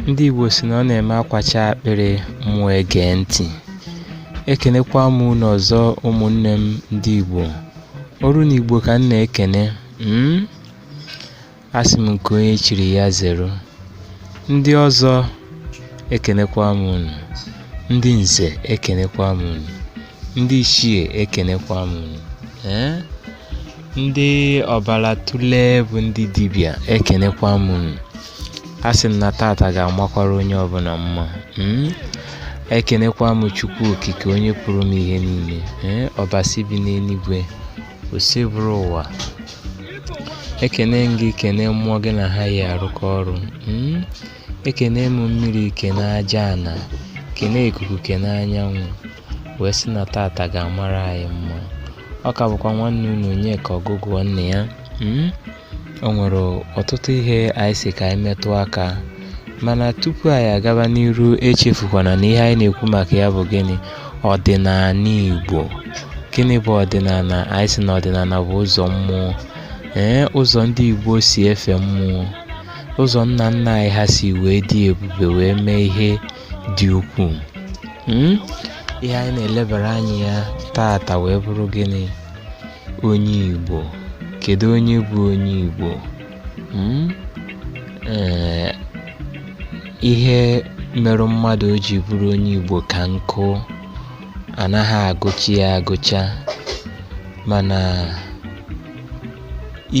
ndị Igbo sị na ọ na-eme akwacha akpịrị mmụọ egee ntị ekenekwa m unu ọzọ ụmụnne m ndị Igbo Oru na Igbo ka m na-ekene hmm? asị m nke onye chiri ya zeru ndị ọzọ ekenekwa m unu ndị nze ekenekwa m unu ndị ichie ekenekwa m unu ee ndị ọbala otule bụ ndị dibịa ekenekwa m unu asị m na tata ga-amakwara onye ọbụla mma mm? ekenekwa m chukwu okike onye pụrụ ime ihe niile ee ọbasi bi n'eluigwe Osebụrụwa ekene m gị kene mmụọ gị na ha yi arụkọ ọrụ mm? Ekene m mmiri kene aja ana kene ikuku kene anyanwụ wee sị na tata ga-amara anyị mma ọ ka bụkwa nwanne unu Onyeka Ọgụgụa nne ya mm? o nwere ọtụtụ ihe anyị sị ka anyị metụ aka mana tupu anyị agaba n'iru echefukwana na ihe anyị na-ekwu maka ya bụ gịnị ọdịnala Igbo gịnị bụ ọdịnala anyị sị na ọdịnala bụ ụzọ mmụọ ee ụzọ ndị Igbo si efe mmụọ ụzọ nna nna anyị ha si wee dị ebube wee mee ihe dị ukwuu hmm? ihe anyị na-elebara anya ya taata wee bụrụ gịnị onye Igbo kedu onye bụ onye Igbo hmm? eh, ihe merụ mmadụ o ji bụrụ onye Igbo ka nkụ anaghị agụcha ya agụcha mana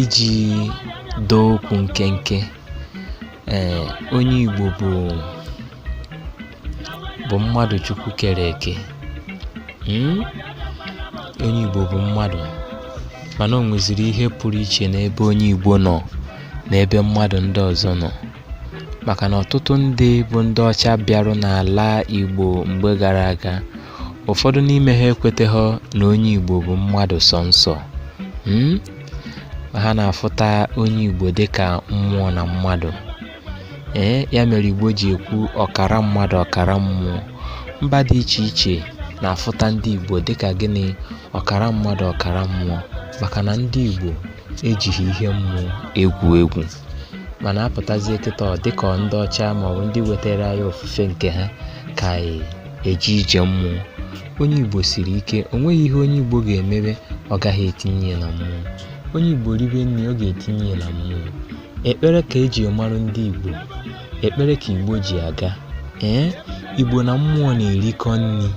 iji doo okwu nkenke ee onye Igbo bụ bụ mmadụ Chukwu kere eke hmm? onye Igbo bụ mmadụ mana o nweziri ihe pụrụ iche n'ebe onye Igbo nọ n'ebe mmadụ ndị ọzọ nọ maka na ọtụtụ ndị bụ ndị ọcha bịarụ n'ala Igbo mgbe gara aga ụfọdụ n'ime ha ekweteghọ na onye Igbo bụ mmadụ sọ nsọ hmm? ha na-afụta onye Igbo dịka mmụọ na mmadụ ee eh, ya mere Igbo ji ekwu ọkara mmadụ ọkara mmụọ mba dị iche iche na-afụta ndị Igbo dịka gịnị ọkara mmadụ ọkara mmụọ maka na ndị Igbo ejighị ihe mmụọ egwu egwu mana apụtazie kịta ọ dịka ọ ndị ọcha maọbụ ndị wetara anyị ofufe nke ha ka anyị eje ije mmụọ onye igbo siri ike o nweghị ihe onye igbo ga-emebe ọ gaghị etinye ya na mmụọ onye igbo ribe nri ọ ga-etinye ya na mmụọ ekpere ka eji marụ ndị igbo ekpere ka igbo ji aga ee igbo na mmụọ na-erikọ nri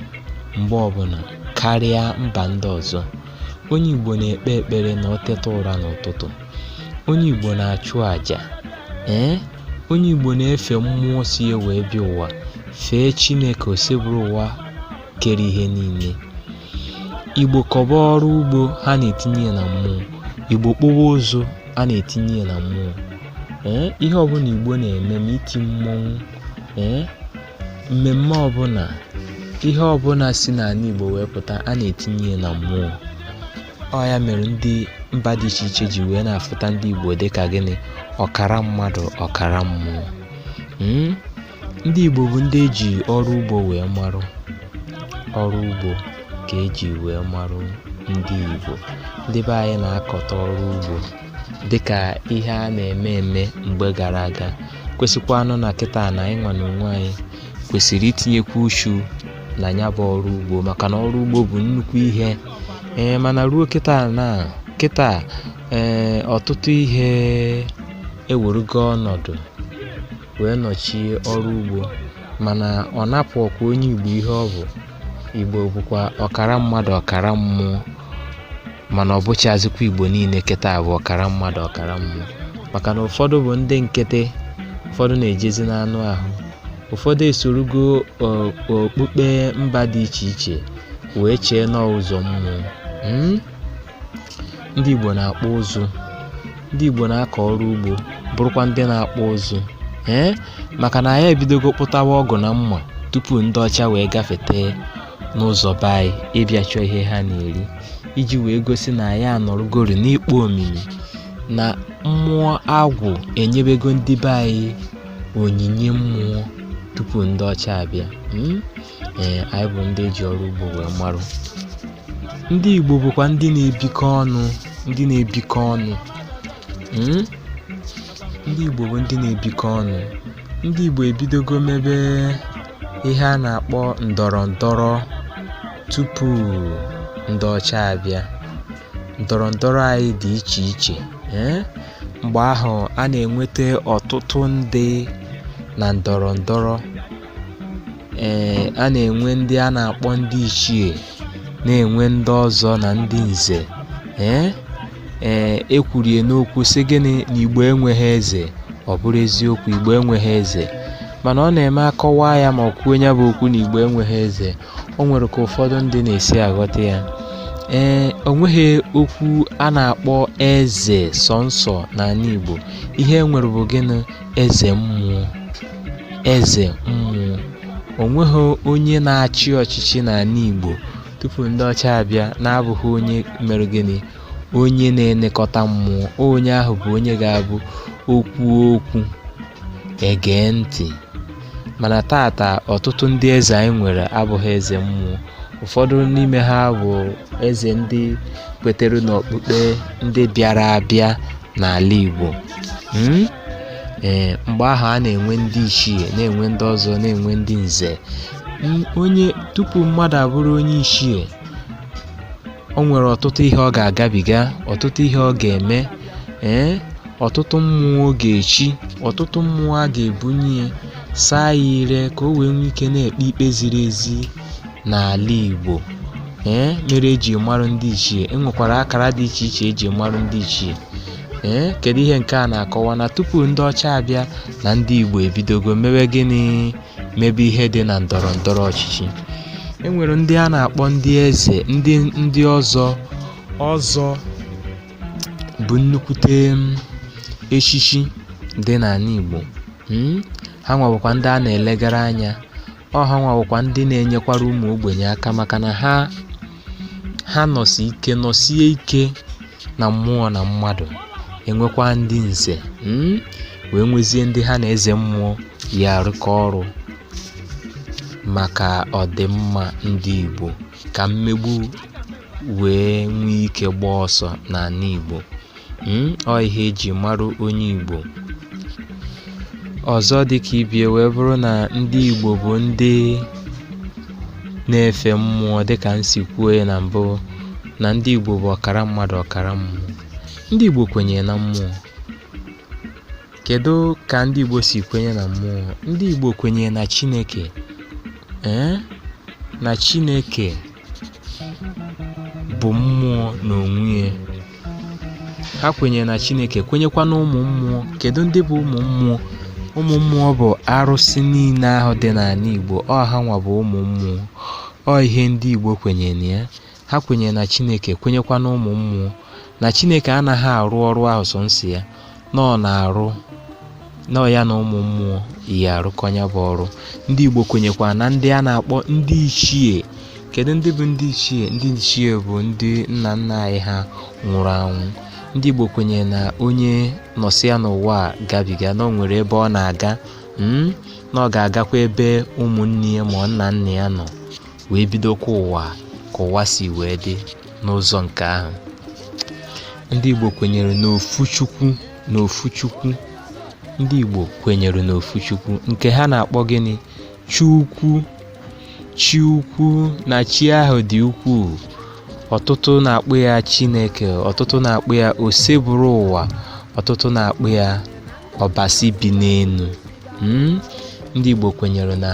mgbe ọbụla karịa mba ndị ọzọ onye igbo na-ekpe ekpere na ọ teta ụra n'ụtụtụ onye Igbo na-achụ àjà ee onye Igbo na-efe mmụọ si ya wee bịa ụwa fee Chineke Osebụrụwa kere ihe niile Igbo kọba ọrụ ugbo ha na-etinye ya na mmụọ Igbo kpụwa ụzụ a na-etinye ya na mmụọ ee ihe ọbụna Igbo na-eme ma iti mmọnwụ ee mmemme ọbụna ihe ọbụna si n'anị Igbo wee pụta a na-etinye ya na mmụọ ọ ya mere ndị mba dị iche iche ji wee na-afụta ndị Igbo dị ka gịnị ọkara mmadụ ọkara mmụọ hmm? ndị Igbo bụ ndị eji ọrụ ugbo wee marụ ọrụ ugbo ka eji wee marụ ndị Igbo ndị be anyị na-akọta ọrụ ugbo dịka ihe a na-eme eme mgbe gara aga kwesịkwanụ na kịta na anyị nwa n'onwe anyị kwesịrị itinyekwu uchu na nya bụ ọrụ ugbo maka na ọrụ ugbo bụ nnukwu ihe ee mana ruo kịta na kịta ee ọtụtụ ihe ewerugo ọnọdụ wee nọchie ọrụ ugbo mana ọ napụhọkwa onye igbo ihe ọ bụ igbo bụkwa ọkara mmadụ ọkara mmụọ mana ọ bụchazikwa igbo niile kịta bụ ọkara mmadụ ọkara mmụọ maka na ụfọdụ bụ ndị nkịtị ụfọdụ na-ejezi n'anụ ahụ ụfọdụ esorugo okpukpe mba dị iche iche wee chee na ọ ụzọ mmụọ hmm? ndị Igbo na-akpụ ụzụ ndị Igbo na-akọ ọrụ ugbo bụrụkwa ndị na-akpụ ụzụ ee eh? maka na anyị ebidogo kpụtawa ọgụ na mma tupu ndị ọcha wee gafete n'ụzọ be anyị ịbịa chọọ ihe ha na-eri iji wee gosi na anyị anọrọgori n'ikpo omimi na mmụọ agwụ enyebego ndị be anyị onyinye mmụọ tupu ndị ọcha abịa hmm? ee anyị bụ ndị eji ọrụ ugbo wee marụ ndị Igbo bụkwa ndị na-ebikọ ọnụ ndị na-ebikọ ọnụ hmm? ndị Igbo bụ ndị na-ebikọ ọnụ ndị Igbo ebidogo mebe ihe a na-akpọ ndọrọ ndọrọ tupu ndị ọcha abịa ndọrọ ndọrọ anyị dị iche iche eh? mgbe ahụ a na-enweta ọtụtụ ndị na ndọrọ ndọrọ ee a na-enwe ndị a na-akpọ ndị ichie na-enwe ndị ọzọ na ndị nze ee ee ekwurie n'okwu sị gịnị na igbo enweghị eze ọ bụrụ eziokwu igbo enweghị eze mana ọ na-eme akọwa ya ma e kwuo nya bụ okwu na igbo enweghị eze o nwere ka ụfọdụ ndị na-esi aghọta ya ee o nweghị okwu a na-akpọ eze sọnsọ n'anị igbo ihe e nwere bụ gịnị eze mmụọ eze mmụọ o nweghị onye na-achị ọchịchị n'ala Igbo tupu ndị ọcha abịa na-abụghị onye mere gịnị onye na-elekọta mmụọ onye ahụ bụ onye ga-abụ o kwuo okwu egee ntị mana tata ọtụtụ ndị eze anyị nwere abụghị eze mmụọ ụfọdụ n'ime ha bụ eze ndị kwetere n'okpukpe ndị bịara abịa n'ala Igbo hmm? ee mgbe ahụ a na-enwe ndị ichie na-enwe ndị ọzọ na-enwe ndị nze onye tupu mmadụ abụrụ onye ichie o nwere ọtụtụ ihe ọ ga-agabiga ọtụtụ ihe ọ ga-eme ee ọtụtụ mmụọ ọ ga-echi ọtụtụ mmụọ a ga-ebunye ya saa ya ire ka o wee nwee ike na-ekpe ikpe ziri ezi n'ala Igbo ee mere eji marụ ndị ichie enwekwara akara dị iche iche eji marụ ndị ichie ee kedu ihe nke a na-akọwa na tupu ndị ọcha abịa na ndị Igbo ebidogo mewe gịnị mebe ihe dị na ndọrọ ndọrọ ọchịchị e nwere ndị a na-akpọ ndị eze ndị ndị ọzọ ọzọ bụ nnukwute um, echichi dị n'ala Igbo hmm? ha nwa bụkwa ndị a na-elegara anya ọ ha nwa bụkwa ndị na-enyekwara ụmụ ogbenye aka maka na ha ha nọsi ike nọsie ike na mmụọ na mmadụ enwekwa ndị nze hmm? wee nwezie ndị ha na eze mmụọ ya arụkọ ọrụ maka ọdịmma ndị Igbo ka mmegbu wee nwee ike gbaa ọsọ n'ala Igbo hmm? ọ ihe eji marụ onye Igbo ọzọ dịka ibe ya wee bụrụ na ndị Igbo bụ ndị na-efe mmụọ dịka m si kwuo ya na mbụ na ndị Igbo bụ ọkara mmadụ ọkara mmụọ ndị Igbo kwenyere na mmụọ kedu ka ndị Igbo si kwenye na mmụọ ndị Igbo kwenyere na Chineke ee na Chineke bụ mmụọ n'onwe ya ha kwenyere na Chineke kwenyekwa na ụmụ mmụọ kedu ndị bụ ụmụ mmụọ ụmụ mmụọ bụ arụsị niile ahụ dị n'ala Igbo ọ ha nwa bụ ụmụ mmụọ ọ ihe ndị Igbo kwenyere na ya ha kwenyere na chineke kwenyekwa na ụmụ mmụọ na chineke anaghị arụ ọrụ ahụ sọnsọ ya na ọ ya na ụmụ mmụọ yi arụkọ ya bụ ọrụ ndị igbo kwenyekwa na ndị a na-akpọ ndị ichie kedu ndị bụ ndị ichie ndị ichie bụ ndị nna nna anyị ha nwụrụ anwụ ndị igbo kwenyere na onye nọsịa n'ụwa a gabiga na o nwere ebe ọ na-aga mm, na ọ ga-agakwa ebe ụmụnne ya ma nna nna ya nọ wee bidokwa ụwa ka ụwa si wee dị n'ụzọ nke ahụ ndị Igbo kwenyere n'ofu Chukwu n'ofu Chukwu ndị Igbo kwenyere n'ofu Chukwu nke ha na-akpọ gịnị Chukwu chi ukwu na chi ahụ dị ukwuu ọtụtụ na-akpọ ya Chineke ọtụtụ na-akpọ ya Osebụrụwa ọtụtụ na-akpọ ya Ọbasi bi n'enu hmm? ndị Igbo kwenyere na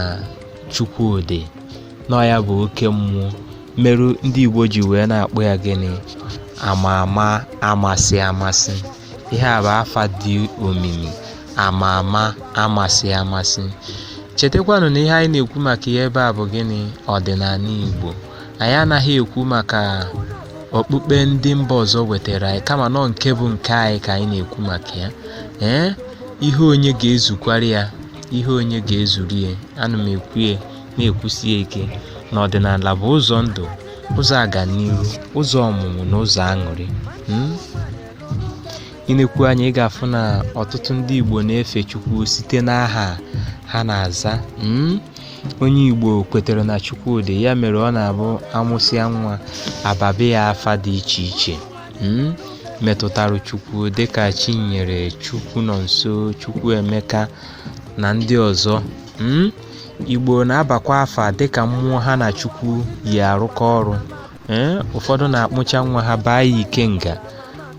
Chukwu dị na ọ ya bụ oke mmụọ merụ ndị Igbo ji wee na-akpọ ya gịnị ama ama amasị amasị ihe a bụ afa dị omimi ama ama amasị amasị chetakwanụ na ihe anyị na-ekwu maka ya ebe a bụ gịnị ọdịnanị Igbo anyị anaghị ekwu maka okpukpe ndị mba ọzọ wetara anyị kama na ọ nke bụ nke anyị ka anyị na-ekwu maka ya ee ihe onye ga-ezukwara ya ihe onye ga-ezuru ya ana m ekwu ya na-ekwusi ya ike na ọdịnala bụ ụzọ ndụ ụzọ aganiru ụzọ ọmụmụ na ụzọ aṅụrị hmm? i nekwu anya ị ga-afụ na ọtụtụ ndị Igbo na-efe Chukwu site n'aha ha na-aza hmm? onye Igbo kwetere na Chukwu dị ya mere ọ na-abụ a mụsịa nwa a babe ya afa dị iche iche metụtara Chukwu dịka Chinyere, Chukwunọnso, Chukwuemeka na ndị ọzọ. Igbo na-abakwa afa dịka mmụọ ha na Chukwu yi arụkọ ọrụ. ee Ụfọdụ na-akpụcha nwa ha baa ya Ikenga.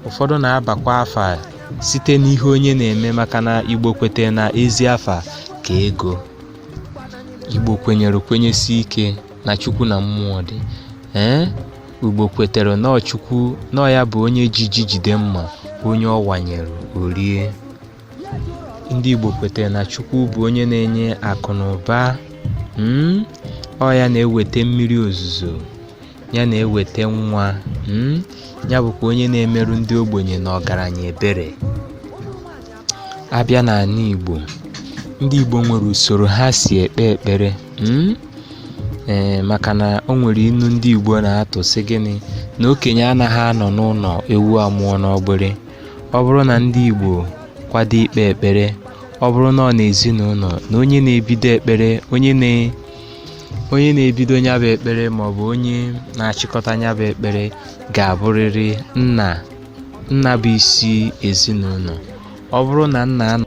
Ụfọdụ na-abakwa afa site n'ihe onye na-eme maka na Igbo kwete na ezi afa ka ego. Igbo kwenyere kwenyesi ike na Chukwu na mmụọ dị. ee Igbo kwetere na ọ Chukwu na ọ ya bụ onye ji ji jide mma onye ọ wanyere o rie. Ndị Igbo kwetere na Chukwu bụ onye na-enye akụ na ụba. Mm? Ọ ya na-eweta mmiri ozuzo, ya na-eweta nwa. Mm? Ya bụkwa onye na-emerụ ndị ogbenye na ọgaranya ebere. a bịa n'anị Igbo ndị Igbo nwere usoro ha si ekpe ekpere hmm? ee maka na o nwere inu ndị Igbo na-atụ sị gịnị na okenye anaghị anọ n'ụnọ ewu amụọ n'ọgbịrị ọ bụrụ na ndị Igbo kwado ikpe ekpere ọ bụrụ na ọ n'ezinụnọ na onye na-ebido ekpere onye na-ebido nya bụ ekpere maọbụ onye na-achịkọta nya bụ ekpere ga-abụrịrị nna Nna bụ isi ezinụnọ. Ọ bụrụ na nna anọ